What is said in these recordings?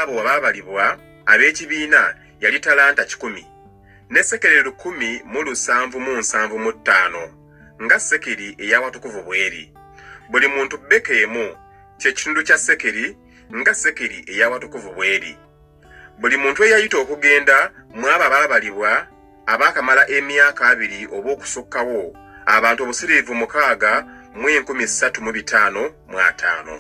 abo abaabalibwa ab'ekibiina yali talanta kikumi ne sekeri lukumi mu lusanvu mu nsanvu mu ttaano nga sekeri ey'awatukuvu bw'eri buli muntu bbeka emu kye kitundu kya sekeri nga sekeri ey'awatukuvu bw'eri buli muntu eyayita okugenda mu abo abaabalibwa abaakamala emyaka abiri oba okusukkawo abantu obusiriivu mukaaga mu enkumi ssatu mu bitaano mu ataano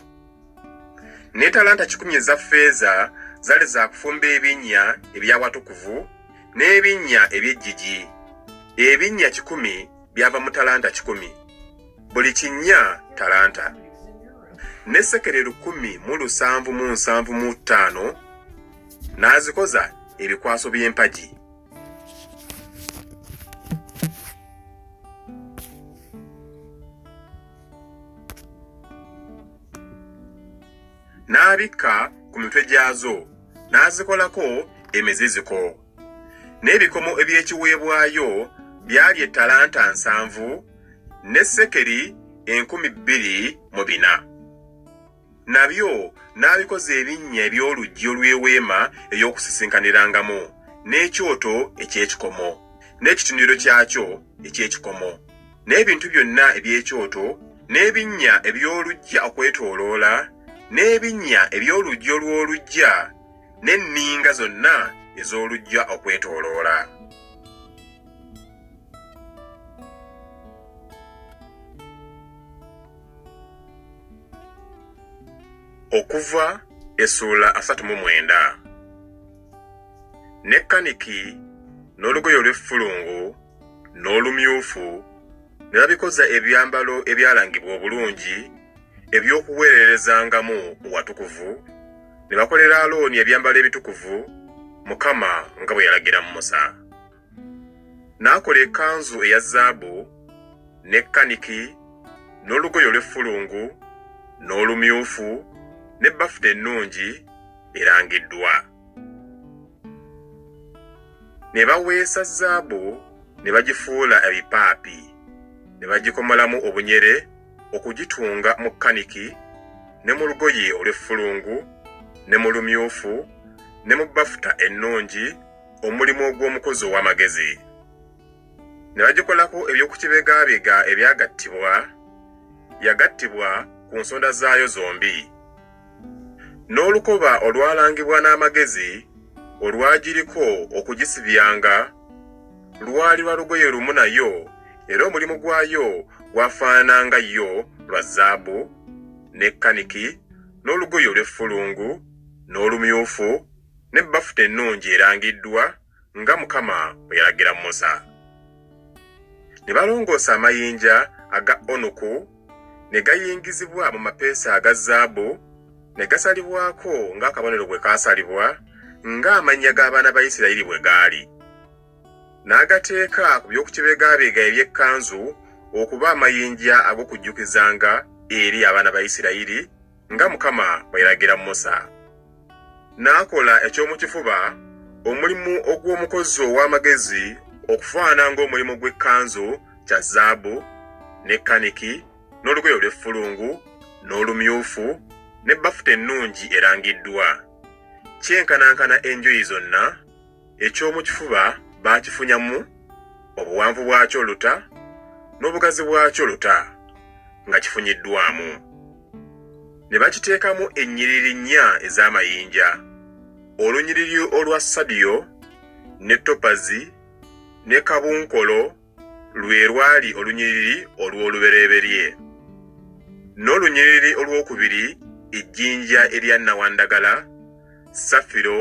ne talanta kikumi eza ffeeza zali za kufumba ebinnya eby'awatukuvu n'ebinnya eby'ejjiji. Ebinnya kikumi byava mu talanta kikumi, buli kinnya talanta. Ne sekere lukumi mu lusanvu mu nsanvu mu ttaano n'azikoza ebikwaso by'empagi. n'abikka ku mitwe gyazo n'azikolako emiziziko n'ebikomo eby'ekiweebwayo byali ettalanta nsanvu ne sekeri enkumi bbiri mu bina. Nabyo n'abikoza ebinnya eby'oluggi olw'eweema ey'okusisinkanirangamu, n'ekyoto eky'ekikomo, n'ekitundiriro kyakyo eky'ekikomo, n'ebintu byonna eby'ekyoto, n'ebinnya eby'oluggya okwetooloola, n'ebinnya eby'oluggi olw'oluggya, n'enninga zonna ez'oluggya okwetooloola. okuva essuula asatu mu mwenda ne kaniki n'olugoye olw'effulungu n'olumyufu ne babikoza ebyambalo ebyalangibwa obulungi eby'okuweererezangamu watukuvu ne bakolera alooni ebyambalo ebitukuvu mukama nga bwe yalagira musa N'akola ekanzu eya zaabu, ne kaniki, n'olugoye olw'effulungu, n'olumyufu, ne bafuta ennungi erangiddwa. Ne baweesa zaabu ne bagifuula ebipaapi, ne bagikomolamu obunyere okugitunga mu kaniki, ne mu lugoye olw'effulungu, ne mu lumyufu, ne mu bafuta ennungi, omulimu ogw'omukozi ow'amagezi ne bagikolako eby'okukibegabega ebyagattibwa yagattibwa ku nsonda zaayo zombi n'olukoba olwalangibwa n'amagezi olwagiriko okugisibyanga lwali lwa lugoye lumu nayo era omulimu gwayo gwafaanananga yo lwa zaabu ne kaniki n'olugoye olw'effulungu n'olumyufu ne bafuta ennungi erangiddwa nga Mukama bwe yalagira Musa. Ne balongoosa amayinja aga onuku ne gayingizibwa mu mapeesa aga zaabu, ne gasalibwako ng'akabonero bwe kaasalibwa, ng'amannya g'abaana ba Isirayiri bwe gaali. N'agateeka ku by'okukibegaabega eby'ekkanzu okuba amayinja ag'okujjukizanga eri abaana ba Isirayiri, nga Mukama bwe yalagira Musa. N'akola eky'omu kifuba omulimu ogw'omukozi ow'amagezi okufaana ng'omulimu gw'ekkanzu kya zaabu, ne kaniki, n'olugoye olw'effulungu, n'olumyufu, ne bafuta ennungi erangiddwa, kyenkanankana enjuyi zonna, Eky'omu kifuba baakifunyamu obuwanvu bwakyo luta n'obugazi bwakyo luta nga kifunyiddwamu. Ne bakiteekamu ennyiriri nnya ez'amayinja, olunyiriri olwa sadiyo ne topazi ne kabunkolo lwe lwali olunyiriri olw'olubereberye, n'olunyiriri olwokubiri ejjinja erya nnawandagala, safiro,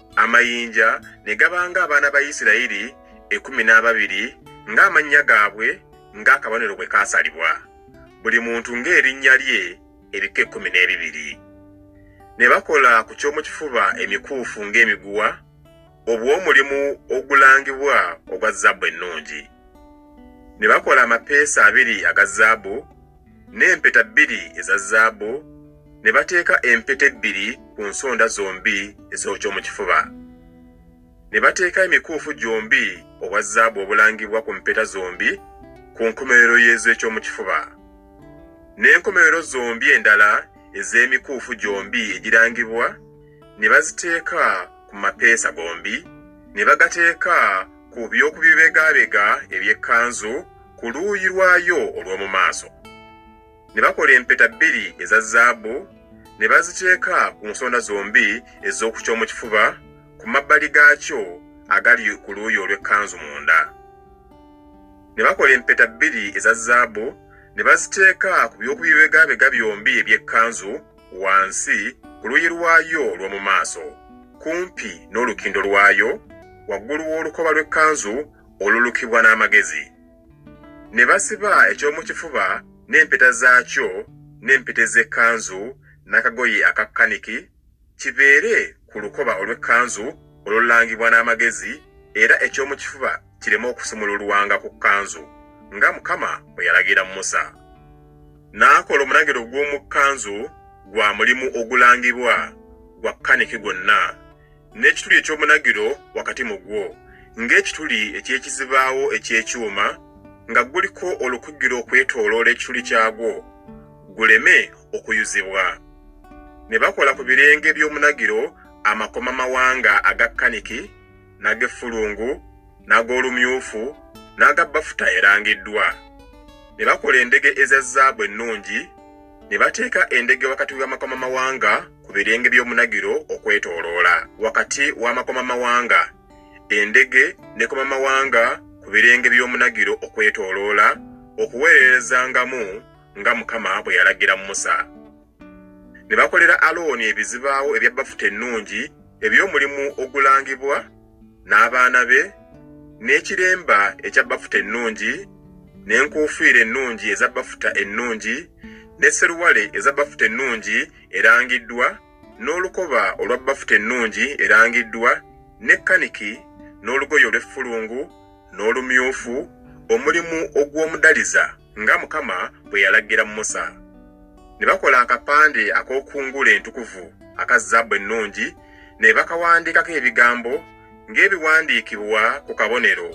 amayinja ne gaba ng'abaana ba Isirayiri ekkumi n'ababiri ng'amannya gaabwe ng'akabonero bwe kaasalibwa, buli muntu ng'erinnya lye, ebika ekkumi n'ebibiri. Ne bakola ku ky'omu kifuba emikuufu ng'emiguwa, obw'omulimu ogulangibwa ogwa zaabu ennungi. Ne bakola amapeesa abiri aga zaabu, n'empeta bbiri eza zaabu, ne bateeka empeta ebbiri ku nsonda zombi ez'oky'omu kifuba. Ne bateeka emikuufu gyombi obwa zaabu obulangibwa ku mpeta zombi ku nkomerero y'ez'eky'omu kifuba, n'enkomerero zombi endala ez'emikuufu gyombi egirangibwa ne baziteeka ku mapeesa gombi, ne bagateeka ku by'oku bibegaabega eby'ekkanzu ku luuyi lwayo olw'omu maaso. Ne bakola empeta bbiri eza zaabu ne baziteeka ku nsonda zombi ez'oku ky'omu kifuba ku mabbali gaakyo agali ku luuyi olw'ekkanzu munda. Ne bakola empeta bbiri eza zaabu ne baziteeka ku by'oku bibegabega byombi eby'ekkanzu wansi ku luuyi lwayo olw'omu maaso, kumpi n'olukindo lwayo, waggulu w'olukoba lw'ekkanzu olulukibwa n'amagezi, ne basiba eky'omu kifuba n'empeta zaakyo n'empeta ez'ekkanzu n'akagoye aka kkaniki, kibeere ku lukoba olw'ekkanzu olulangibwa n'amagezi, era eky'omu kifuba kireme okusumululwanga ku kkanzu, nga Mukama bwe yalagira Musa. N'akola omunagiro gw'omu kkanzu gwa mulimu ogulangibwa gwa kkaniki gwonna. n'ekituli eky'omunagiro wakati mu gwo, ng'ekituli eky'ekizibaawo eky'ekyuma, nga guliko olukugiro okwetooloola ekituli kyagwo, guleme okuyuzibwa. Ne bakola ku birenge by'omunagiro amakomamawanga aga kaniki, n'ag'effulungu, n'ag'olumyufu, n'aga bafuta erangiddwa. Ne bakola endege eza zaabu ennungi, ne bateeka endege wakati w'amakomamawanga ku birenge by'omunagiro okwetooloola wakati w'amakomamawanga endege nekomamawanga ku birenge by'omunagiro okwetooloola okuweererezangamu nga mukama bwe yalagira musa ne bakolera alooni ebizibaawo ebya bafuta ennungi eby'omulimu ogulangibwa n'abaana be n'ekiremba ekya bafuta ennungi n'enkuufiira ennungi eza bafuta ennungi ne seruwale eza bafuta ennungi erangiddwa n'olukoba olwa bafuta ennungi erangiddwa ne kaniki n'olugoye olw'effulungu n'olumyufu omulimu ogw'omudaliza nga Mukama bwe yalagira Musa. Ne bakola akapande ak'okungula entukuvu aka zaabu ennungi, ne bakawandiikako ebigambo ng'ebiwandiikibwa ku kabonero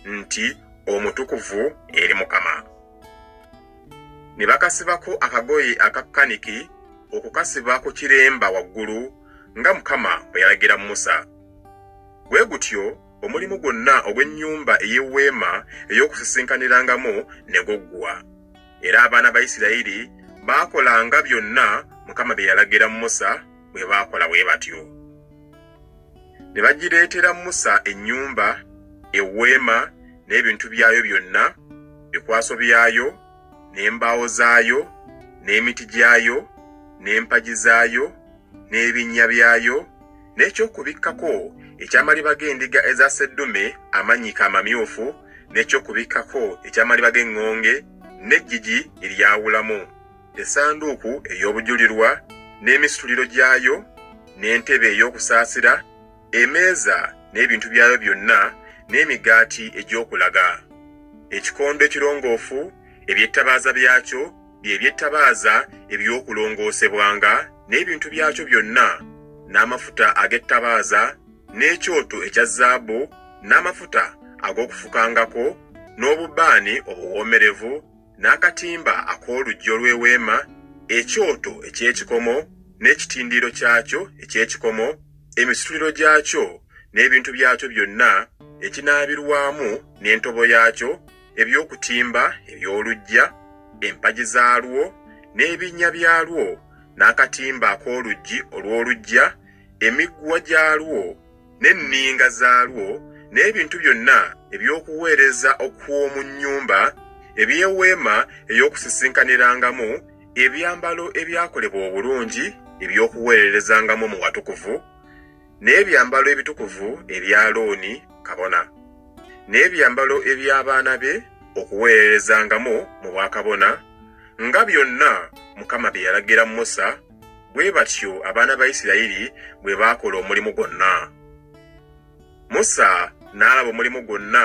nti Omutukuvu eri Mukama. Ne bakasibako akagoye aka kaniki okukasiba ku kiremba waggulu nga Mukama bwe yalagira Musa. Bwe gutyo omulimu gwonna ogw'ennyumba ey'eweema ey'okusisinkanirangamu ne guggwa era abaana ba isirayiri baakolanga byonna mukama bye yalagira musa bwe baakola bwe batyo ne bagireetera musa ennyumba eweema n'ebintu byayo byonna bikwaso byayo n'embaawo zaayo n'emiti gyayo n'empagi zaayo n'ebinnya byayo n'ekyokubikkako eky'amaliba g'endiga eza sseddume amannyike amamyufu n'ekyokubikkako eky'amaliba g'eŋŋonge n'eggigi eryawulamu essanduuku ey'obujulirwa n'emisituliro gyayo n'entebe ey'okusaasira emeeza n'ebintu byayo byonna n'emigaati egy'okulaga ekikondo ekirongoofu eby'ettabaaza byakyo bye by'ettabaaza eby'okulongoosebwanga n'ebintu byakyo byonna, n'amafuta ag'ettabaaza, n'ekyoto ekya zaabu, n'amafuta ag'okufukangako, n'obubaani obuwoomerevu, n'akatimba ak'oluggi olw'eweema, ekyoto eky'ekikomo, n'ekitindiiro kyakyo eky'ekikomo, emisituliro gyakyo n'ebintu byakyo byonna, ekinaabirwamu n'entobo yaakyo, eby'okutimba eby'oluggya, empagi zaalwo, n'ebinnya byalwo, n'akatimba ak'oluggi olw'oluggya, emiguwa gyalwo, n'enninga zaalwo, n'ebintu byonna eby'okuweereza okw'omu nnyumba, eby'eweema ey'okusisinkanirangamu, ebyambalo ebyakolebwa obulungi eby'okuweererezangamu mu watukuvu, n'ebyambalo ebitukuvu ebya Looni kabona, n'ebyambalo eby'abaana be okuweererezangamu mu bwakabona, nga byonna Mukama bye yalagira Musa, bwe batyo abaana ba Isirayiri bwe baakola omulimu gwonna. Musa n'alaba omulimu gwonna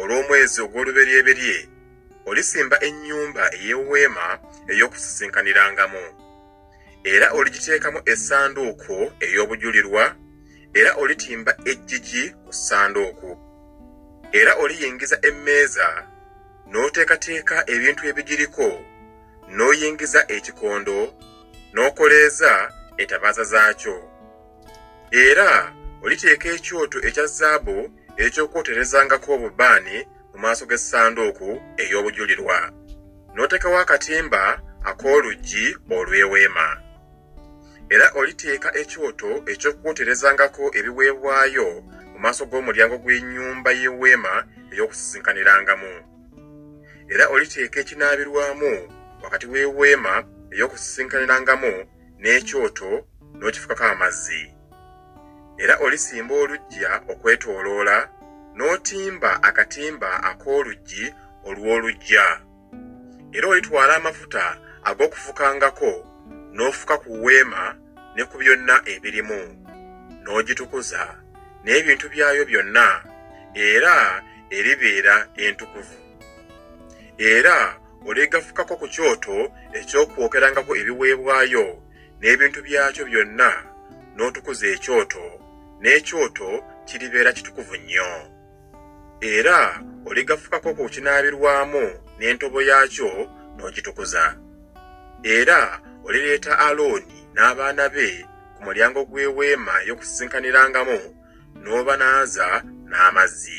Olw'omwezi ogw'oluberyeberye olisimba ennyumba ey'eweema ey'okusisinkanirangamu, era oligiteekamu essanduuko ey'obujulirwa, era olitimba eggigi ku ssanduuku. Era oliyingiza emmeeza, n'oteekateeka ebintu ebigiriko, n'oyingiza ekikondo, n'okoleeza etabaaza zaakyo. Era oliteeka ekyoto ekya zaabu eky'okwoterezangako obubaani mu maaso g'essanduuku ey'obujulirwa, n'oteekawo akatimba ak'oluggi olw'eweema. Era oliteeka ekyoto eky'okwoterezangako ebiweebwayo mu maaso g'omulyango gw'ennyumba y'eweema ey'okusisinkanirangamu. Era oliteeka ekinaabirwamu wakati w'eweema ey'okusisinkanirangamu n'ekyoto n'okifukako amazzi. Era olisimba oluggya okwetooloola, n'otimba akatimba ak'oluggi olw'oluggya. Era olitwala amafuta ag'okufukangako n'ofuka ku weema ne ku byonna ebirimu, n'ogitukuza n'ebintu byayo byonna, era eribeera entukuvu. Era oligafukako ku kyoto eky'okwokerangako ebiweebwayo n'ebintu byakyo byonna n'otukuza ekyoto n'ekyoto kiribeera kitukuvu nnyo era oligafukako ku kinaabirwamu n'entobo yaakyo n'ogitukuza era olireeta alooni n'abaana be ku mulyango gw'eweema ey'okusisinkanirangamu n'obanaaza n'amazzi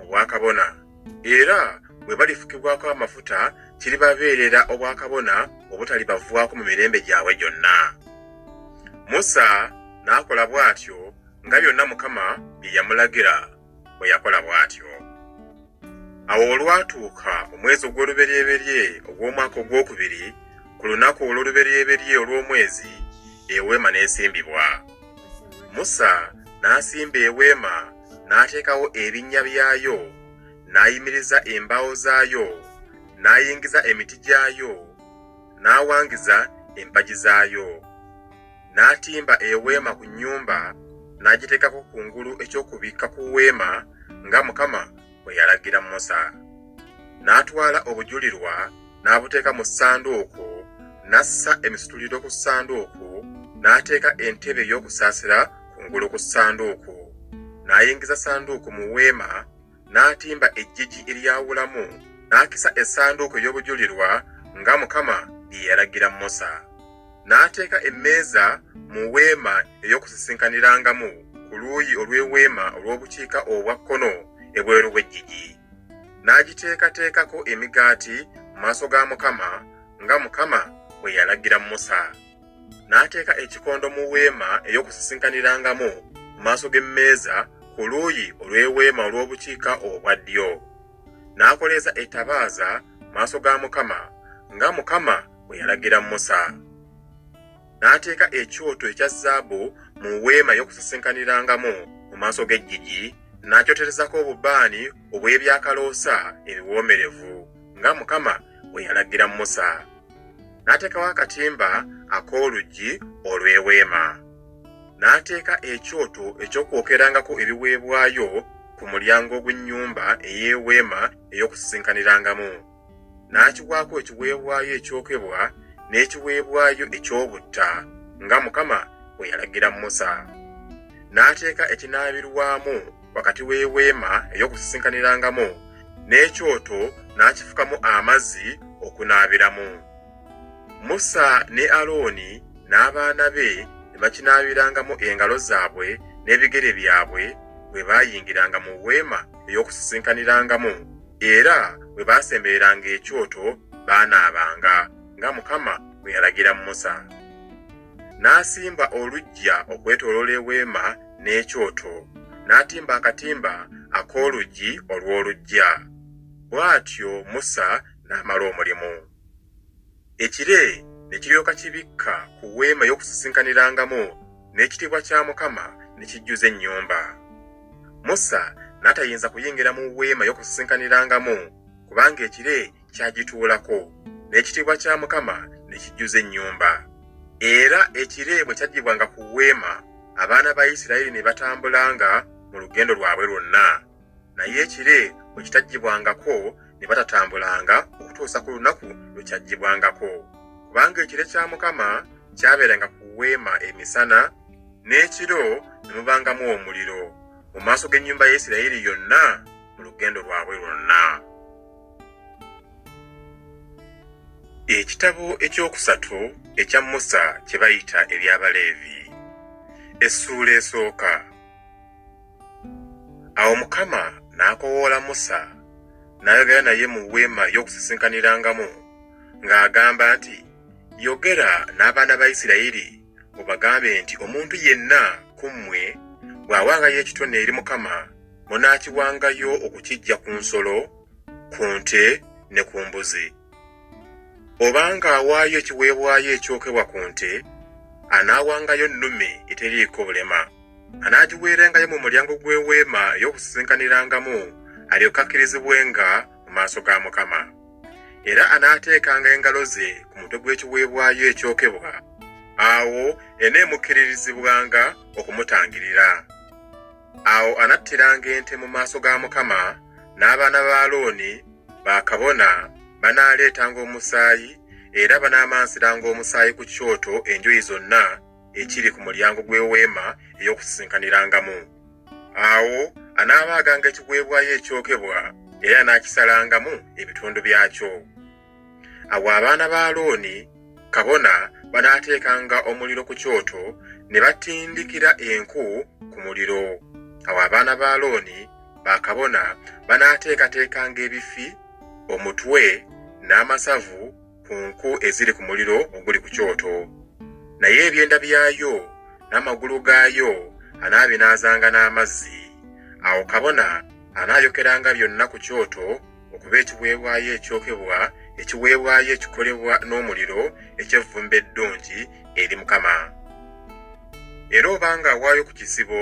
obwakabona era bwe balifukibwako amafuta kiribabeerera obwakabona obutalibavwako mu mirembe gyabwe gyonna musa n'akola bw'atyo nga byonna mukama bye yamulagira bwe yakola bw'atyo awo olwatuuka omwezi ogw'oluberyeberye ogw'omwaka ogw'okubiri ku lunaku olw'oluberyeberye olw'omwezi eweema n'esimbibwa musa n'asimba eweema n'ateekawo ebinnya byayo, n'ayimiriza embaawo zaayo, n'ayingiza emiti gyayo, n'awangiza empagi zaayo. N'atimba eweema ku nnyumba, n'agiteekako kungulu eky'okubikka ku weema, nga Mukama bwe yalagira Musa. N'atwala obujulirwa n'abuteeka mu ssanduuku, n'assa emisituliro ku ssanduuku, n'ateeka entebe ey'okusaasira ku ngulu ku ssanduuku. N'ayingiza ssanduuku mu weema, n'atimba eggigi eryawulamu, n'akisa essanduuku ey'obujulirwa nga Mukama bye yalagira Musa. n'ateeka emmeeza mu weema ey'okusisinkanirangam ku luuyi olw'eweema olw'obukiika obwa kkono ebweru w'eggigi, n'agiteekateekako emigaati mu maaso ga Mukama, nga Mukama bwe yalagira Musa. N'ateeka ekikondo mu weema ey'okusisinkanirangam ku maaso g'emmeeza ku luuyi olw'eweema olw'obukiika obwa ddyo. N'akoleeza etabaaza mu maaso ga Mukama, nga Mukama bwe yalagira Musa. N'ateeka ekyoto ekya zaabu mu weema y'okusisinkanirangamu mu maaso g'eggigi, n'akyoterezako obubaani obw'ebyakaloosa ebiwoomerevu, nga Mukama bwe yalagira Musa. N'ateekawo akatimba ak'oluggi olw'eweema. N'ateeka ekyoto eky'okwokerangako ebiweebwayo ku mulyango ogw'ennyumba ey'eweema ey'okusisinkanirangamu. n'akiwaako ekiweebwayo ekyokebwa n'ekiweebwayo eky'obutta nga Mukama bwe yalagira Musa. N'ateeka ekinaabirwamu wakati w'eweema ey'okusisinkanirangamu n'ekyoto n'akifukamu amazzi okunaabiramu. Musa ne Alooni n'abaana be ne bakinaabirangamu engalo zaabwe n'ebigere byabwe bwe baayingiranga mu weema ey'okusisinkanirangamu era bwe baasembereranga ekyoto baanaabanga nga Mukama bwe yalagira Musa. N'asimba oluggya okwetooloola eweema n'ekyoto, n'atimba akatimba ak'oluggi olw'oluggya. Bw'atyo Musa n'amala omulimu. Ekire ne kiryoka kibikka ku weema ey'okusisinkanirangamu, n'ekitiibwa kya Mukama ne kijjuza ennyumba. Musa n'atayinza kuyingira mu weema ey'okusisinkanirangamu, kubanga ekire kyagituulako, n'ekitiibwa kya Mukama ne kijjuza ennyumba. Era ekire bwe kyaggyibwanga ku weema, abaana ba Isirayiri ne batambulanga mu lugendo lwabwe lwonna. naye ekire bwe kitaggyibwangako ne batatambulanga okutuusa ku lunaku lwe kyaggyibwangako kubanga ekire kya mukama kyabeeranga ku weema emisana n'ekiro ne mubangamu omuliro mu maaso g'ennyumba ya isirayiri yonna mu lugendo lwabwe lwonna ekitabo ekyokusatu ekya musa kye bayita eby'abaleevi essuula esooka Awo Mukama n'akowoola Musa n'ayogera naye mu weema ey'okusisinkanirangamu ng'agamba nti, Yogera n'abaana ba Isirayiri obagambe nti omuntu yenna ku mmwe bw'awangayo ekitone eri Mukama munaakiwangayo okukiggya ku nsolo, ku nte ne ku mbuzi. Obanga awaayo ekiweebwayo ekyokebwa ku nte, anaawangayo nnume eteriiko bulema. anaagiweerengayo mu mulyango gw'eweema ey'okusisinkanirangamu alyoke akkirizibwenga mu maaso ga Mukama. Era anaateekanga engalo ze ku mutwe gw'ekiweebwayo ekyokebwa, awo eneemukkiririzibwanga okumutangirira. Awo anattiranga ente mu maaso ga Mukama, n'abaana ba Alooni bakabona banaaleetanga omusaayi era banaamansiranga omusaayi ku kyoto enjuyi zonna ekiri ku mulyango gw'eweema ey'okusisinkanirangamu awo anaabaaganga ekiweebwayo ekyokebwa era anaakisalangamu ebitundu byakyo awo abaana ba alooni kabona banaateekanga omuliro ku kyoto ne batindikira enku ku muliro awo abaana ba alooni bakabona banaateekateekanga ebifi omutwe n'amasavu ku nku eziri ku muliro oguli ku kyoto. Naye ebyenda byayo n'amagulu gaayo anaabinaazanga n'amazzi. Awo kabona anaayokeranga byonna ku kyoto okuba ekiweebwayo ekyokebwa, ekiweebwayo ekikolebwa n'omuliro eky'evvumbe eddungi eri Mukama. Era obanga awaayo ku kisibo,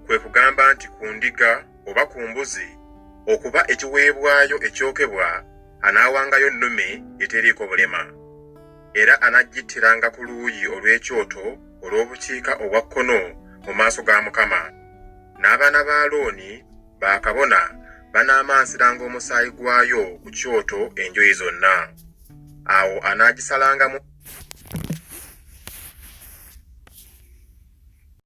kwe kugamba nti ku ndiga oba ku mbuzi, okuba ekiweebwayo ekyokebwa, anaawangayo nnume eteriiko bulema, era anaggittiranga ku luuyi olw'ekyoto olw'obukiika obwa kkono mu maaso ga Mukama. N'abaana ba Alooni bakabona banaamansiranga omusaayi gwayo ku kyoto enjuyi zonna. Awo anaagisalangamu